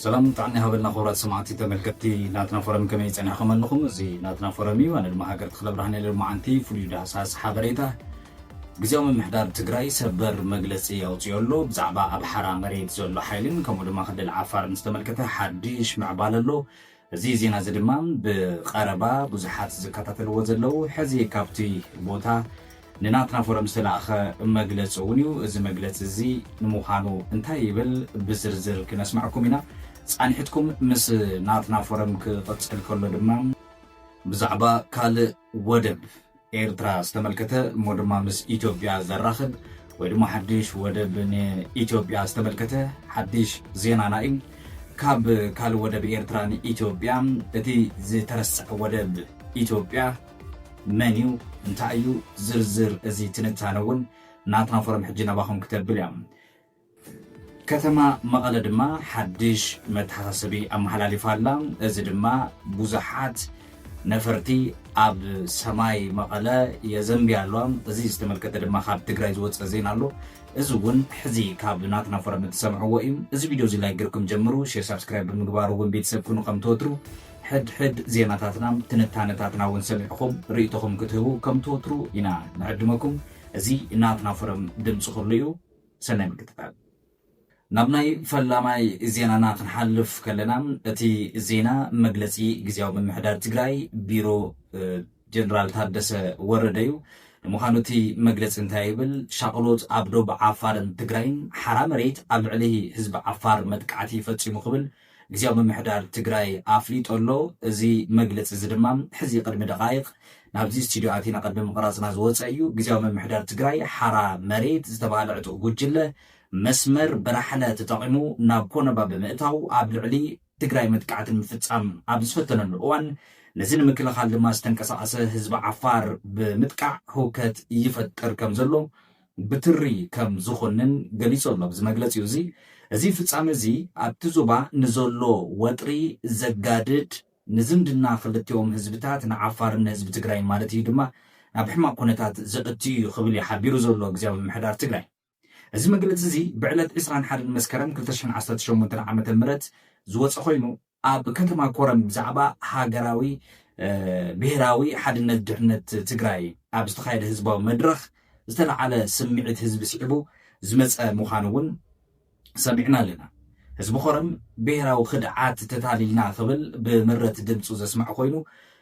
ሰላም ጥዕና ይሃበልና ክቡራት ሰማዕቲ ተመልከትቲ ናትና ፎረም ከመይ ጸኒዕኩም ኣለኹም እዚ ናትና ፎረም እዩ ኣነ ድማ ሃገር ተክለ ብርሃን ሎማዓንቲ ፍሉይ ዳህሳስ ሓበሬታ ግዜያዊ ምምሕዳር ትግራይ ሰበር መግለጺ ኣውፅኦ ኣሎ ብዛዕባ ኣብ ሓራ መሬት ዘሎ ሓይልን ከምኡ ድማ ክልል ዓፋርን ዝተመልከተ ሓድሽ ምዕባለ ኣሎ እዚ ዜና እዚ ድማ ብቐረባ ብዙሓት ዝከታተልዎ ዘለዉ ሕዚ ካብቲ ቦታ ንናትና ፎረም ዝተላእኸ መግለፂ እውን እዩ። እዚ መግለፂ እዚ ንምዃኑ እንታይ ይብል ብዝርዝር ክነስመዐኩም ኢና። ፃንሒትኩም ምስ ናትና ፎረም ክቕፅል ከሎ ድማ። ብዛዕባ ካልእ ወደብ ኤርትራ ዝተመልከተ እሞ ድማ ምስ ኢትዮጵያ ዘራኽብ ወይ ድማ ሓድሽ ወደብ ንኢትዮጵያ ዝተመልከተ ሓድሽ ዜናና እዩ። ካብ ካልእ ወደብ ኤርትራ ንኢትዮጵያ እቲ ዝተረስዐ ወደብ ኢትዮጵያ መን እዩ እንታይ እዩ ዝርዝር እዚ ትንታነ እውን ናትና ፎረም ሕጂ ናባኹም ክተብል እያ። ከተማ መቐለ ድማ ሓድሽ መተሓሳሰቢ ኣመሓላሊፋ ኣላ። እዚ ድማ ብዙሓት ነፈርቲ ኣብ ሰማይ መቐለ የዘንብያ ኣለዋ። እዚ ዝተመልከተ ድማ ካብ ትግራይ ዝወፀ ዜና ኣሎ። እዚ እውን ሕዚ ካብ ናትና ፎረም እትሰምዕዎ እዩ። እዚ ቪድዮ እዚ ላይክ ጌርኩም ጀምሩ፣ ሼር ሳብስክራይብ ብምግባር እውን ቤተሰብ ኩኑ ከም ትወትሩ ሕድሕድ ዜናታትና ትንታነታትና እውን ሰሚዕኹም ርእይቶኹም ክትህቡ ከም ትወትሩ ኢና ንዕድመኩም። እዚ ናትና ፎረም ድምፂ ኩሉ እዩ። ሰናይ ምክትታል። ናብ ናይ ፈላማይ ዜናና ክንሓልፍ ከለና እቲ ዜና መግለፂ ግዝያዊ ምምሕዳር ትግራይ ቢሮ ጀነራል ታደሰ ወረደ ዩ። ንምዃኑ እቲ መግለፂ እንታይ ይብል? ሻቕሎት ኣብ ዶብ ዓፋርን ትግራይን ሓራ መሬት ኣብ ልዕሊ ህዝቢ ዓፋር መጥቃዕቲ ፈፂሙ ክብል ግዝያዊ ምምሕዳር ትግራይ ኣፍሊጡ ኣሎ። እዚ መግለጺ እዚ ድማ ሕዚ ቅድሚ ደቓይቕ ናብዚ ስቱድዮ ኣቲና ቅድሚ ምቕራጽና ዝወጸ እዩ። ግዝያዊ ምምሕዳር ትግራይ ሓራ መሬት ዝተባህለ ዕጡቕ ጉጅለ መስመር ብራሕለ ተጠቒሙ ናብ ኮነባ ብምእታው ኣብ ልዕሊ ትግራይ መጥቃዕቲ ንምፍጻም ኣብ ዝፈተነሉ እዋን ነዚ ንምክልኻል ድማ ዝተንቀሳቐሰ ህዝቢ ዓፋር ብምጥቃዕ ህውከት ይፈጥር ከምዘሎ ብትሪ ከም ዝኹንን ገሊጹ ኣሎ። ኣብዚ መግለጺኡ እዚ፣ እዚ ፍጻመ እዚ ኣብቲ ዞባ ንዘሎ ወጥሪ ዘጋድድ፣ ንዝምድና ክልቲኦም ህዝብታት ንዓፋርን ንህዝቢ ትግራይን ማለት እዩ ድማ ናብ ሕማቕ ኩነታት ዘእቱ እዩ ክብል እዩ ሓቢሩ ዘሎ ግዝያዊ ምምሕዳር ትግራይ። እዚ መግለጺ እዚ ብዕለት ዕስራን ሓደን መስከረም ክልተ ሽሕን ዓሰርተ ሸሞንተን ዓመተ ምህረት ዝወጸ ኮይኑ፣ ኣብ ከተማ ኮረም ብዛዕባ ሃገራዊ ብሄራዊ ሓድነት ድሕነት ትግራይ ኣብ ዝተኻየደ ህዝባዊ መድረኽ ዝተልዓለ ስምዒት ህዝቢ ስዒቡ ዝመፀ ምዃኑ እውን ሰሚዕና ኣለና። ህዝቢ ኮረም ብሄራዊ ክድዓት ተታሊልና ክብል ብምረት ድምፁ ዘስመዐ ኮይኑ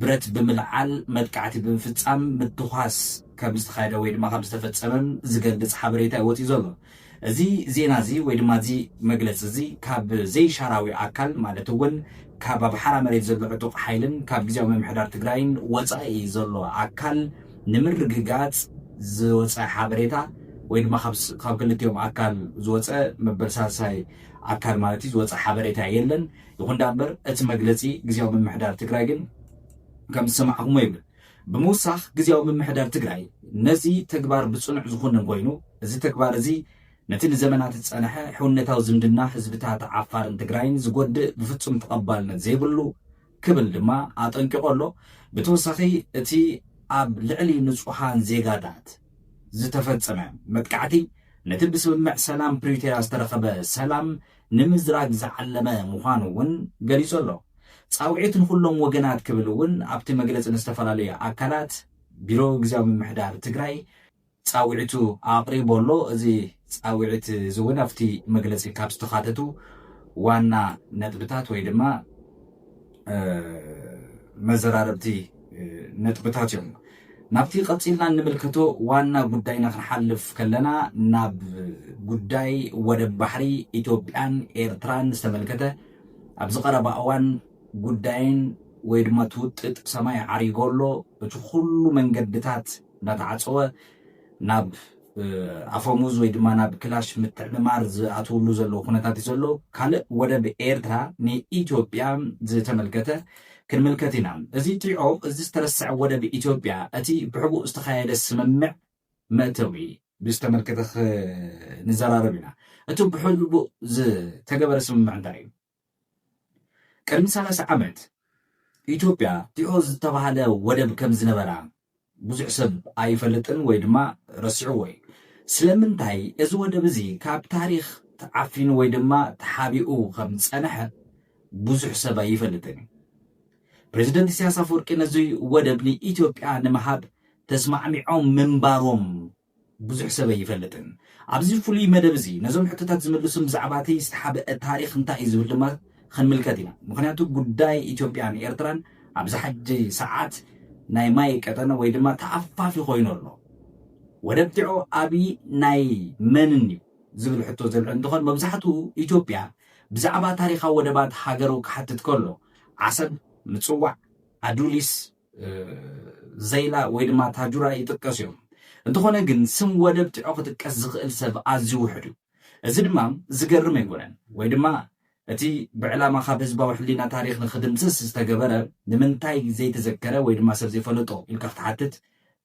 ብረት ብምልዓል መጥቃዕቲ ብምፍፃም ምትኳስ ከምዝተኻየደ ወይ ድማ ከምዝተፈፀመ ዝገልፅ ሓበሬታ እዩ ወፂኡ ዘሎ። እዚ ዜና እዚ ወይ ድማ እዚ መግለፂ እዚ ካብ ዘይሻራዊ ኣካል ማለት እውን ካብ ኣብ ሓራ መሬት ዘሎ ዕጡቕ ሓይልን ካብ ግዜያዊ ምምሕዳር ትግራይን ወፃኢ ዘሎ ኣካል ንምርግጋፅ ዝወፀ ሓበሬታ ወይ ድማ ካብ ክልቲኦም ኣካል ዝወፀ መበል ሳልሳይ ኣካል ማለት እዩ ዝወፀ ሓበሬታ የለን። ይኹን ዳኣምበር እቲ መግለፂ ግዝያዊ ምምሕዳር ትግራይ ግን ከምዝሰማዕኹምዎ ይብል። ብምውሳኽ ግዝያዊ ምምሕዳር ትግራይ ነዚ ተግባር ብፅኑዕ ዝኹንን ኮይኑ እዚ ተግባር እዚ ነቲ ንዘመናት ዝፀነሐ ሕውነታዊ ዝምድና ህዝብታት ዓፋርን ትግራይን ዝጎድእ ብፍፁም ተቐባልነት ዘይብሉ ክብል ድማ ኣጠንቂቑ ኣሎ። ብተወሳኺ እቲ ኣብ ልዕሊ ንፁሃን ዜጋታት ዝተፈፀመ መጥቃዕቲ ነቲ ብስምምዕ ሰላም ፕሪቶርያ ዝተረኸበ ሰላም ንምዝራግ ዝዓለመ ምዃኑ እውን ገሊጹ ኣሎ። ጻውዒት ንኹሎም ወገናት ክብል እውን ኣብቲ መግለጺ ንዝተፈላለዩ ኣካላት ቢሮ ግዝያዊ ምምሕዳር ትግራይ ጻውዒቱ ኣቕሪቡ ኣሎ። እዚ ጻውዒት እዚ እውን ኣብቲ መግለጺ ካብ ዝተኻተቱ ዋና ነጥብታት ወይ ድማ፣ መዘራረብቲ ነጥብታት እዮም ናብቲ ቀፂልና እንምልከቶ ዋና ጉዳይና ክንሓልፍ ከለና ናብ ጉዳይ ወደብ ባሕሪ ኢትዮጵያን ኤርትራን ዝተመልከተ ኣብዚ ቀረባ እዋን ጉዳይን ወይ ድማ ትውጥጥ ሰማይ ዓሪጎ ኣሎ እቲ ኩሉ መንገድታት እናተዓፀወ ናብ ኣፈሙዝ ወይ ድማ ናብ ክላሽ ምትዕምማር ዝኣትውሉ ዘለዉ ኩነታት እዩ ዘሎ። ካልእ ወደብ ኤርትራ ንኢትዮጵያ ዝተመልከተ ክንምልከት ኢና። እዚ ትሪኦ እዚ ዝተረሰዐ ወደብ ኢትዮጵያ እቲ ብሕቡእ ዝተኻየደ ስምምዕ መእተዊ ብዝተመልከተ ክንዘራረብ ኢና። እቲ ብሕቡእ ዝተገበረ ስምምዕ እንታይ እዩ? ቅድሚ ሰላሳ ዓመት ኢትዮጵያ ቲኦ ዝተባህለ ወደብ ከም ዝነበራ ብዙሕ ሰብ ኣይፈልጥን ወይ ድማ ረሲዕዎ እዩ። ስለምንታይ እዚ ወደብ እዚ ካብ ታሪኽ ተዓፊኑ ወይ ድማ ተሓቢኡ ከም ዝጸንሐ ብዙሕ ሰብ ኣይፈልጥን እዩ። ፕረዚደንት ኢሳያስ ኣፈወርቂ ነዚ ወደብ ንኢትዮጵያ ንምሃብ ተስማዕሚዖም ምንባሮም ብዙሕ ሰብ ኣይፈልጥን። ኣብዚ ፍሉይ መደብ እዚ ነዞም ሕቶታት ዝምልሱን ብዛዕባ'ቲ ዝተሓብአ ታሪኽ እንታይ እዩ ዝብል ድማ ክንምልከት ኢና። ምኽንያቱ ጉዳይ ኢትዮጵያን ኤርትራን ኣብዚ ሓጂ ሰዓት ናይ ማይ ቀጠነ ወይ ድማ ተኣፋፊ ኮይኑ ኣሎ። ወደብ ቲዖ ኣብይ ናይ መንን እዩ ዝብል ሕቶ ዘልዕል እንትኾን መብዛሕትኡ ኢትዮጵያ ብዛዕባ ታሪኻ ወደባት ሃገሩ ክሓትት ከሎ ዓሰብ፣ ምጽዋዕ፣ ኣዱሊስ፣ ዘይላ ወይ ድማ ታጁራ ይጥቀሱ እዮም። እንተኾነ ግን ስም ወደብ ቲዖ ክጥቀስ ዝኽእል ሰብ ኣዝዩ ውሑድ እዩ። እዚ ድማ ዝገርም ኣይኮነን። ወይ ድማ እቲ ብዕላማ ካብ ህዝባዊ ሕሊና ታሪኽ ንኽድምስስ ዝተገበረ ንምንታይ ዘይተዘከረ ወይ ድማ ሰብ ዘይፈለጦ ኢልካ ክትሓትት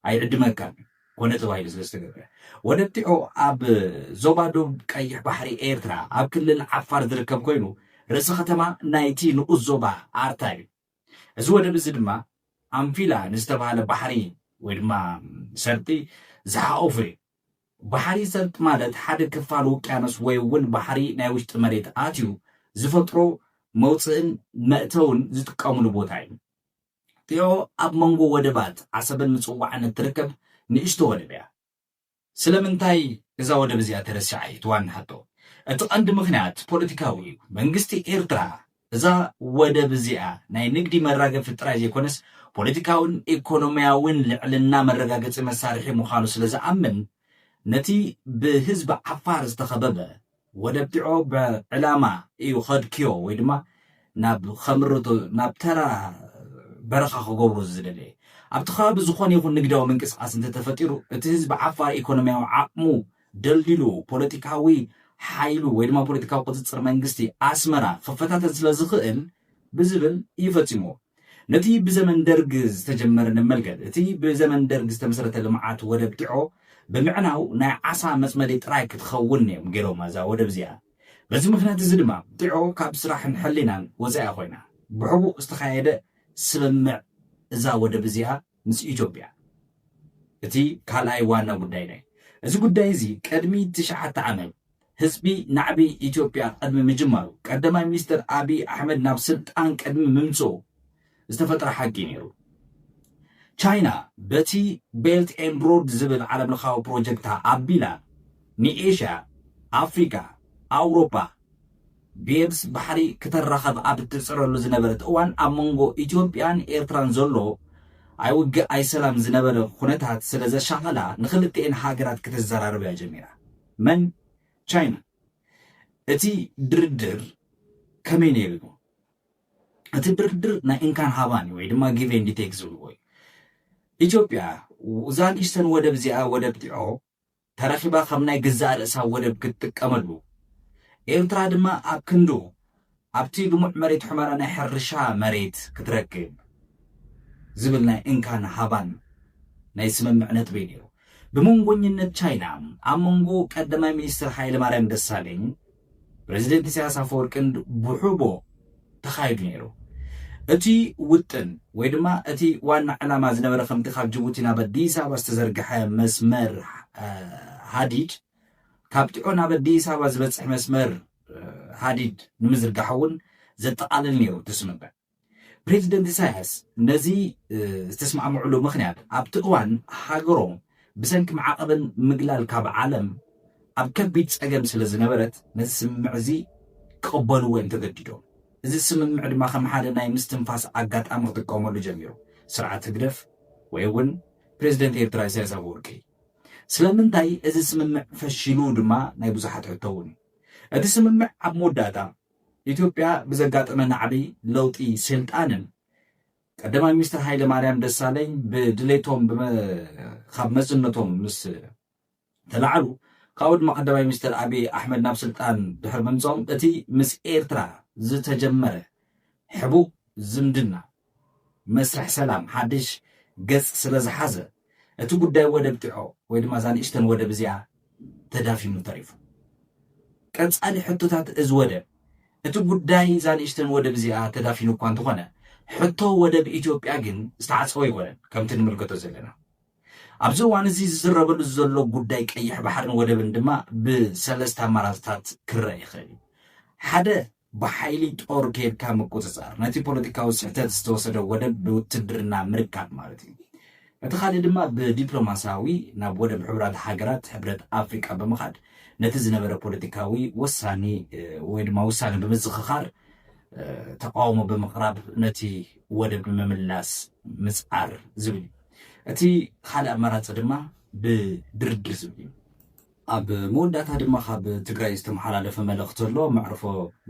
ኣይዕድመካን እዩ። ኮነ ተባሂሉ ስለ ዝተገብረ። ወደብ ቲዖ ኣብ ዞባ ዶብ ቀይሕ ባሕሪ ኤርትራ ኣብ ክልል ዓፋር ዝርከብ ኮይኑ ርእሰ ከተማ ናይቲ ንኡስ ዞባ ኣርታ እዩ። እዚ ወደብ እዚ ድማ ኣንፊላ ንዝተባህለ ባሕሪ ወይ ድማ ሰርጢ ዝሓቆፉ እዩ። ባሕሪ ሰርጢ ማለት ሓደ ክፋል ውቅያኖስ ወይ እውን ባሕሪ ናይ ውሽጢ መሬት ኣትዩ ዝፈጥሮ መውፅእን መእተውን ዝጥቀምሉ ቦታ እዩ። ጢዖ ኣብ መንጎ ወደባት ዓሰብን ምፅዋዕን እትርከብ ንእሽቶ ወደብ እያ። ስለምንታይ እዛ ወደብ እዚኣ ተረሲዓ እዩ እቲ ዋና ሕቶ። እቲ ቀንዲ ምኽንያት ፖለቲካዊ እዩ። መንግስቲ ኤርትራ እዛ ወደብ እዚኣ ናይ ንግዲ መራገፊ ጥራይ ዘይኮነስ ፖለቲካውን ኤኮኖሚያውን ልዕልና መረጋገጺ መሳርሒ ምዃኑ ስለዝኣምን ነቲ ብህዝቢ ዓፋር ዝተኸበበ ወደብቲዖ ብ ዕላማ ኢዩ ከድክዮ ወይ ድማ ናብ ከምርቶ ናብ ተራ በረኻ ክገብሮ ዝደለየ። ኣብቲ ከባቢ ዝኾነ ይኹን ንግዳዊ ምንቅስቃስ እንተተፈጢሩ እቲ ህዝቢ ዓፋር ኢኮኖሚያዊ ዓቕሙ ደልዲሉ ፖለቲካዊ ሓይሉ ወይ ድማ ፖለቲካዊ ቁጽጽር መንግስቲ ኣስመራ ክፈታተን ስለዝኽእል ብዝብል ኢዩ ፈጺምዎ። ነቲ ብዘመን ደርግ ዝተጀመረ ንመልከት። እቲ ብዘመን ደርግ ዝተመስረተ ልምዓት ወደብ ጢዖ ብምዕናው ናይ ዓሳ መፅመዲ ጥራይ ክትኸውን እዮም ገይሮማ እዛ ወደብ እዚኣ። በዚ ምኽንያት እዚ ድማ ጢዖ ካብ ስራሕን ሕሊናን ወፃኢ ኮይና። ብሕቡእ ዝተኻየደ ስምምዕ እዛ ወደብ እዚኣ ምስ ኢትዮጵያ እቲ ካልኣይ ዋና ጉዳይና እዩ። እዚ ጉዳይ እዚ ቅድሚ ትሽዓተ ዓመት ህዝቢ ናዕቢ ኢትዮጵያ ቅድሚ ምጅማሩ፣ ቀዳማይ ሚኒስትር ኣቢይ ኣሕመድ ናብ ስልጣን ቅድሚ ምምፅኡ ዝተፈጥረ ሓቂ እዩ ነይሩ። ቻይና በቲ ቤልት ኤንድ ሮድ ዝብል ዓለምለኻዊ ፕሮጀክታ ኣቢላ ንኤሽያ፣ ኣፍሪካ፣ ኣውሮፓ፣ ብየብስ ባሕሪ ክተራኸብ ኣብ እትጽዕረሉ ዝነበረት እዋን ኣብ መንጎ ኢትዮጵያን ኤርትራን ዘሎ ኣይ ውግእ ኣይ ሰላም ዝነበረ ኩነታት ስለ ዘሻቐላ ንኽልቲኤን ሃገራት ክተዘራርብ እያ ጀሚራ። መን? ቻይና። እቲ ድርድር ከመይ ነይሩ እዩ? እቲ ድርድር ናይ እንካን ሃባን እዩ ወይ ድማ ጊቭ ኤንድ ቴክ ዝብልዎ እዩ። ኢትዮጵያ ዛጊሽተን ወደብ እዚኣ ወደብ ጢዖ ተረኪባ ከም ናይ ገዛእ ርእሳ ወደብ ክትጥቀመሉ፣ ኤርትራ ድማ ኣብ ክንዱ ኣብቲ ልሙዕ መሬት ሑመራ ናይ ሕርሻ መሬት ክትረክብ ዝብል ናይ እንካን ሃባን ናይ ስምምዕ ነጥቢ ነይሩ። ብመንጎኝነት ቻይና ኣብ መንጎ ቀዳማይ ሚኒስተር ሃይለማርያም ደሳለኝ፣ ፕረዚደንት ኢሳያስ ኣፈወርቅን ብሑቦ ተኻይዱ ነይሩ። እቲ ውጥን ወይ ድማ እቲ ዋና ዕላማ ዝነበረ ከምቲ ካብ ጅቡቲ ናብ ኣዲስ ኣበባ ዝተዘርግሐ መስመር ሃዲድ ካብ ጢዖ ናብ ኣዲስ ኣበባ ዝበፅሕ መስመር ሃዲድ ንምዝርጋሕ እውን ዘጠቓልል ነይሩ እቲ ስምምዕ። ፕሬዚደንት ኢሳያስ ነዚ ዝተስማዕምዕሉ ምኽንያት ኣብቲ እዋን ሃገሮም ብሰንኪ ማዕቐብን ምግላል ካብ ዓለም ኣብ ከቢድ ጸገም ስለ ዝነበረት ነዚ ስምምዕ እዚ ክቕበልዎ እዮም ተገዲዶም። እዚ ስምምዕ ድማ ከም ሓደ ናይ ምስትንፋስ ኣጋጣሚ ክጥቀመሉ ጀሚሩ ስርዓት ህግደፍ ወይ እውን ፕሬዚደንት ኤርትራ ኢሳያስ ኣፈወርቂ። ስለምንታይ እዚ ስምምዕ ፈሺሉ ድማ ናይ ብዙሓት ሕቶ እውን እዩ። እቲ ስምምዕ ኣብ መወዳእታ ኢትዮጵያ ብዘጋጠመ ናዕቢ ለውጢ ሴልጣንን ቀዳማይ ሚኒስትር ሃይለማርያም ደሳለኝ ብድሌቶም ብመ ካብ መዝነቶም ምስ ተላዕሉ ካብኡ ድማ ቀዳማይ ሚኒስትር ኣብይ ኣሕመድ ናብ ስልጣን ድሕሪ ምምፅኦም እቲ ምስ ኤርትራ ዝተጀመረ ሕቡእ ዝምድና መስርሕ ሰላም ሓድሽ ገጽ ስለ ዝሓዘ፣ እቲ ጉዳይ ወደብ ጢዖ ወይ ድማ እዛ ንእሽተን ወደብ እዚኣ ተዳፊኑ ተሪፉ። ቀጻሊ ሕቶታት እዚ ወደብ፣ እቲ ጉዳይ እዛ ንእሽተን ወደብ እዚኣ ተዳፊኑ እኳ እንተኾነ፣ ሕቶ ወደብ ኢትዮጵያ ግን ዝተዓጸወ ኣይኮነን። ከምቲ ንምልከቶ ዘለና፣ ኣብዚ እዋን እዚ ዝዝረበሉ ዘሎ ጉዳይ ቀይሕ ባሕርን ወደብን ድማ ብሰለስተ ኣማራጺታት ክረኣ ይኽእል እዩ። ሓደ፣ ብሓይሊ ጦር ከይድካ ምቁጽጻር፣ ነቲ ፖለቲካዊ ስሕተት ዝተወሰደ ወደብ ብውትድርና ምርካብ ማለት እዩ። እቲ ካልእ ድማ ብዲፕሎማስያዊ ናብ ወደብ ሕቡራት ሃገራት ሕብረት ኣፍሪቃ ብምኻድ ነቲ ዝነበረ ፖለቲካዊ ወሳኒ ወይ ድማ ውሳነ ብምዝኽኻር ተቃውሞ ብምቕራብ ነቲ ወደብ ንምምላስ ምጽዓር ዝብል እዩ። እቲ ካልእ ኣማራጺ ድማ ብድርድር ዝብል እዩ። ኣብ መወዳእታ ድማ ካብ ትግራይ ዝተመሓላለፈ መልእኽቲ ኣሎ። መዕርፎ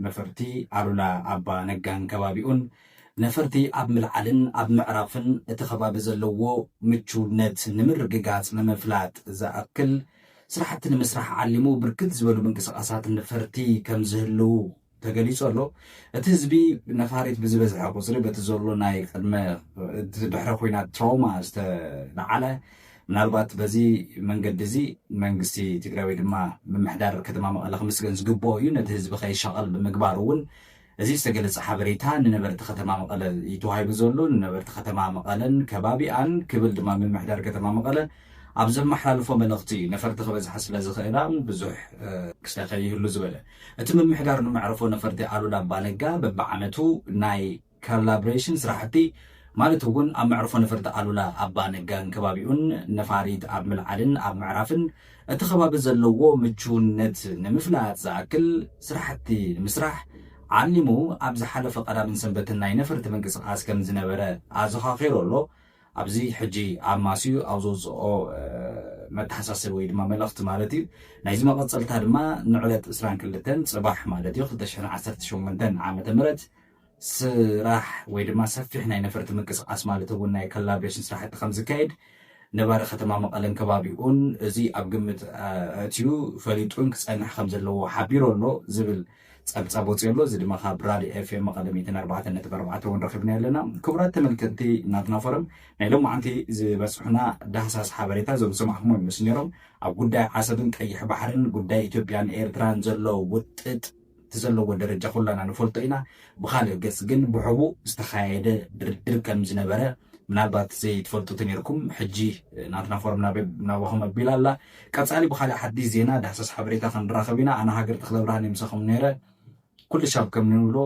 ነፈርቲ ኣሉላ ኣባ ነጋን ከባቢኡን ነፈርቲ ኣብ ምልዓልን ኣብ ምዕራፍን እቲ ከባቢ ዘለዎ ምቹውነት ንምርግጋፅ ንምፍላጥ ዝኣክል ስራሕቲ ንምስራሕ ዓሊሙ ብርክት ዝበሉ ምንቅስቓሳት ነፈርቲ ከምዝህልው ተገሊፁ ኣሎ። እቲ ህዝቢ ነፋሪት ብዝበዝሐ ቁፅሪ በቲ ዘሎ ናይ ቅድመ ድሕረ ኩናት ትራውማ ዝተለዓለ ምናልባት በዚ መንገዲ እዚ መንግስቲ ትግራይ ወይ ድማ ምምሕዳር ከተማ መቐለ ክምስገን ዝግብኦ እዩ ነቲ ህዝቢ ከይሻቐል ብምግባር እውን እዚ ዝተገለፀ ሓበሬታ ንነበርቲ ከተማ መቐለ እዩ ተዋሂቡ ዘሎ ንነበርቲ ከተማ መቐለን ከባቢኣን ክብል ድማ ምምሕዳር ከተማ መቐለ ኣብ ዘመሓላልፎ መልእኽቲ እዩ ነፈርቲ ክበዝሓ ስለ ዝኽእላ ብዙሕ ክስተ ከይህሉ ዝበለ እቲ ምምሕዳር ንመዕርፎ ነፈርቲ ኣሉላ ኣባነጋ በቢዓመቱ ናይ ካላብሬሽን ስራሕቲ ማለት እውን ኣብ መዕርፎ ነፈርቲ ኣሉላ ኣባነጋን ከባቢኡን ነፋሪት ኣብ ምልዓልን ኣብ ምዕራፍን እቲ ከባቢ ዘለዎ ምቹውነት ንምፍላጥ ዝኣክል ስራሕቲ ንምስራሕ ዓሊሙ ኣብ ዝሓለፈ ቀዳምን ሰንበትን ናይ ነፈርቲ ምንቅስቓስ ከምዝነበረ ኣዘኻኺሩ ኣሎ። ኣብዚ ሕጂ ኣብ ማስዩ ኣብ ዘውጽኦ መተሓሳሰቢ ወይ ድማ መልእኽቲ ማለት እዩ። ናይዚ መቐጸልታ ድማ ንዕለት ዕስራን ክልተን ጽባሕ ማለት እዩ ክልተ ሽሕን ዓሰርተ ሸሞንተን ዓመተ ምህረት ስራሕ ወይ ድማ ሰፊሕ ናይ ነፈርቲ ምንቅስቓስ ማለት እውን ናይ ኮላብሬሽን ስራሕቲ ከም ዝካየድ ነባሪ ከተማ መቐለን ከባቢኡን እዚ ኣብ ግምት ኣእትዩ ፈሊጡን ክጸንሕ ከም ዘለዎ ሓቢሩ ኣሎ ዝብል ጸብጻብ ወጺኡ ኣሎ። እዚ ድማ ካብ ራድዮ ኤፍኤም መቐለ ሚእትን ኣርባዕተን ነጥቢ ኣርባዕተ እውን ረኺብናዮ ኣለና። ክቡራት ተመልከትቲ ናትና ፎረም ናይ ሎማዕንቲ ዝበጽሑና ዳህሳስ ሓበሬታ እዞም ዝሰማዕኩሞ ይመስሉ ነይሮም። ኣብ ጉዳይ ዓሰብን ቀይሕ ባሕርን ጉዳይ ኢትዮጵያን ኤርትራን ዘሎ ውጥጥ እቲ ዘለዎ ደረጃ ኩላና ንፈልጦ ኢና። ብኻልእ ገጽ ግን ብሕቡእ ዝተኻየደ ድርድር ከም ዝነበረ ምናልባት ዘይትፈልጡ ተነይርኩም ሕጂ ናትና ፎረም ናባኹም ኣቢላ ኣላ። ቀጻሊ ብኻልእ ሓዲስ ዜና ዳህሳስ ሓበሬታ ክንራኸብ ኢና ኣነ ሃገር ተኽለብርሃን እየ ምሳኹም ነይረ ኩልሻብ ከም ንብሎ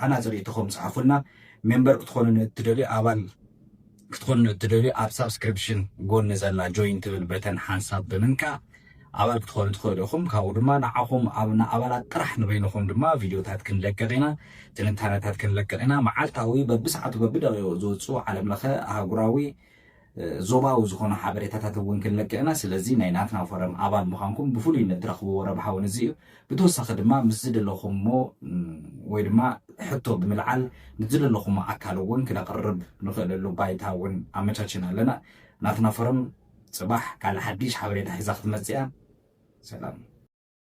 ሃናጺ ርእይቶኹም ጽሓፉልና ሜምበር ክትኾኑኒ እትደልዩ ኣባል ክትኾኑኒ እትደልዩ ኣብ ሳብስክሪፕሽን ጎኒ ዘላ ጆይን ትብል በተን ሓንሳብ ብምንካእ ኣባል ክትኾኑ ትኽእሉ ኢኹም ካብኡ ድማ ንዓኹም ኣብ ንኣባላት ጥራሕ ንበይንኹም ድማ ቪድዮታት ክንለቅቕ ኢና ትንታነታት ክንለቅቕ ኢና መዓልታዊ በብሰዓቱ በብደቂቁ ዝውጽኡ ዓለምለኸ ኣህጉራዊ ዞባዊ ዝኾኑ ሓበሬታታት እውን ክንለቅቕ ኢና። ስለዚ ናይ ናትና ፎረም ኣባል ምዃንኩም ብፍሉይነት ትረኽብዎ ረብሓ እውን እዚ እዩ። ብተወሳኺ ድማ ምስ ዝደለኹምዎ ወይ ድማ ሕቶ ብምልዓል ምስ ዝደለኹምዎ ኣካል እውን ክነቕርብ ንኽእለሉ ባይታ እውን ኣመቻቺና ኣለና። ናትና ፎረም ፅባሕ ካልእ ሓዲሽ ሓበሬታ ሒዛ ክትመፅእ እያ። ሰላም።